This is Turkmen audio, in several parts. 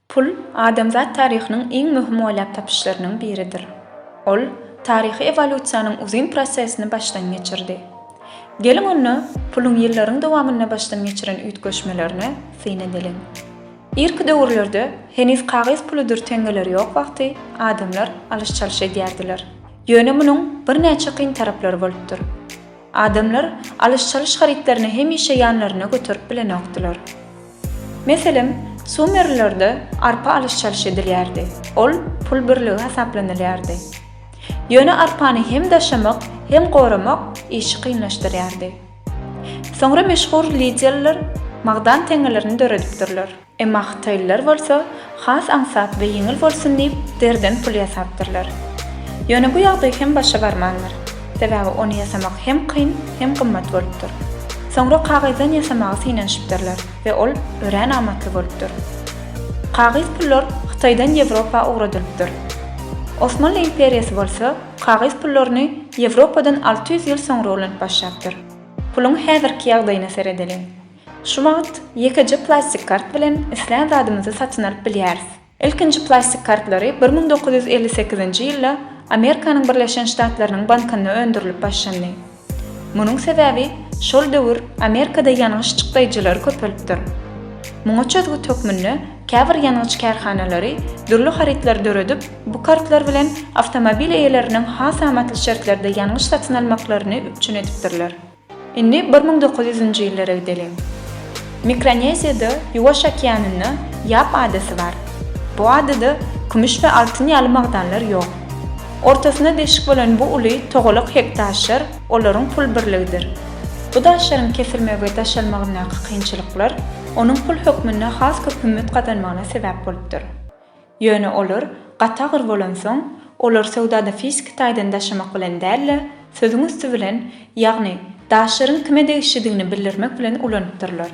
Pul adamzat taryhynyň iň möhüm oýlap tapyşlarynyň biridir. Ol taryhy ewolýusiýanyň uzyn prosesini başdan geçirdi. Geliň onda puluň ýyllaryň dowamynda başdan geçiren üýtgeşmelerine syn edeliň. Irki döwürlerde heniz kagyz puludyr teňňeleri ýok wagty adamlar alyş-çalyş edýärdiler. Ýöne munuň birnäçe kyn taraplary bolupdyr. Adamlar alyş-çalyş harytlaryny hemişe ýanlarynda göterip bilenokdylar. Meselem, sumerlilerde arpa alyş-çalyş edilýärdi, ol pul birligi hasaplanylýardy. Ýöne arpany hem daşamak, hem goramak işi kynlaşdyrýardy. Soňra meşhur liderler magdan teňňelerini döredipdirler. Emma hytaýlylar bolsa has aňsat we ýeňil bolsun diýip deriden pul ýasapdyrlar. Ýöne bu ýagdaý hem başa barmandyr. Sebäbi ony ýasamak hem kyn, hem gymmat bolupdyr. Soňra kagyzdan ýasamagy synanyşypdyrlar we ol örän amatly bolupdyr. Kagyz pullar Hytaýdan Ýewropa ugradylypdyr. Osmanly imperiýasy bolsa Kagyz pullaryny Ýewropadan alty ýüz ýyl soňra ulanyp başlapdyr. Puluň häzirki ýagdaýyna seredeliň. Şu wagt ýekeje plastik kart bilen islän zadymyzy satyn alyp bilýäris. Ilkinji plastik kartlary bir müň dokuz ýüz elli sekizinji ýylda Amerikanyň Birleşen Ştatlarynyň bankynda öndürilip başlandy. Munuň sebäbi şol döwür Amerikada ýangyç çykdaýjylary köpelipdir. Muňa çözgüt hökmünde käbir ýangyç kärhanalary dürli harytlary döredip, bu kartlar bilen awtomobil eýeleriniň has amatly şertlerde ýangyç satyn almaklaryny üpjün edipdirler. Indi bir müň dokuz ýüzünji ýyllara gideliň. Mikroneziýada Ýuwaş okeanynda Ýap adasy bar. Bu adada kümüş we altyn ýaly magdanlar ýok. Ortasynda deşik bolan bu uly togalak hektaşlar olaryň pul birligidir. Bu daşlaryň kesilmegi we daşalmagyndaky kynçylyklar onuň pul hökmünde has köp hümmet gazanmagyna sebäp bolupdyr. Ýöne olar gaty agyr bolansoň, olar söwdada fiziki taýdan daşamak bilen däl-de, sözüň üsti bilen, ýagny daşlaryň kime degişlidigini bildirmek bilen ulanypdyrlar.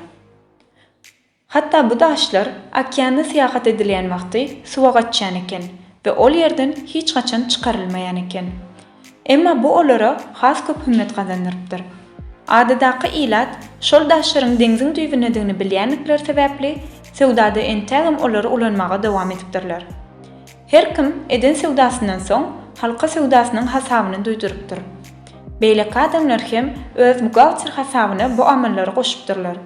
Hatda bu daşlar okeanda syýahat edilýän wagty suwa gaçýan eken we ol ýerden hiç haçan çykarylmaýan eken. Emma bu olara has köp hümmet gazandyrypdyr. Adadaky ilat şol daşlaryň deňziň düýbündedigini bilýändikleri sebäpli, söwdada entägem olary ulanmaga dowam edipdirler. Her kim eden söwdasyndan soň halka söwdasynyň hasabyny duýdurypdyr. Beýleki adamlar hem öz buhgalter hasabyna bu amallary goşupdyrlar.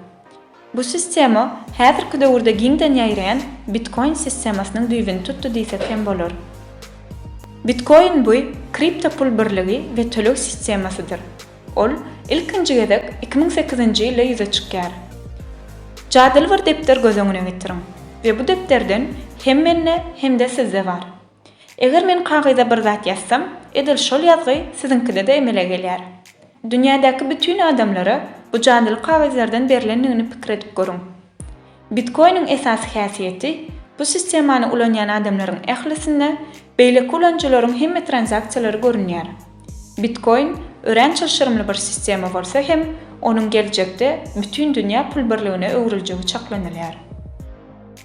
Bu sistema häzirki döwürde giňden ýaýraýan Bitcoin sistemasynyň düýbüni tutdy diýsek hem bolar. Bitcoin buý kripto pul birligi we töleg sistemasydyr. Ol ilkinji gezek iki müň sekizinji ýylda ýüze çykýar. Jadyly bir depder göz öňüne getiriň we bu depderden hemmende hem-de sizde bar. Eger men kagyza bir zat ýazsam, edil şol ýazgy siziňkide-de emele gelýär. Dünýädäki bütin adamlara bu jadyly kagyzlardan berlendigini pikir edip görüň. Bitkoiniň esasy häsiýeti, bu sistemany ulanýan adamlaryň ählisinde beýleki ulanyjylaryň hemme tranzaksiýalary görünýär. Bitkoin örän çylşyrymly bir sistema bolsa hem, onuň geljekde bütin dünýä pul birligine öwrüljegi çaklanylýar.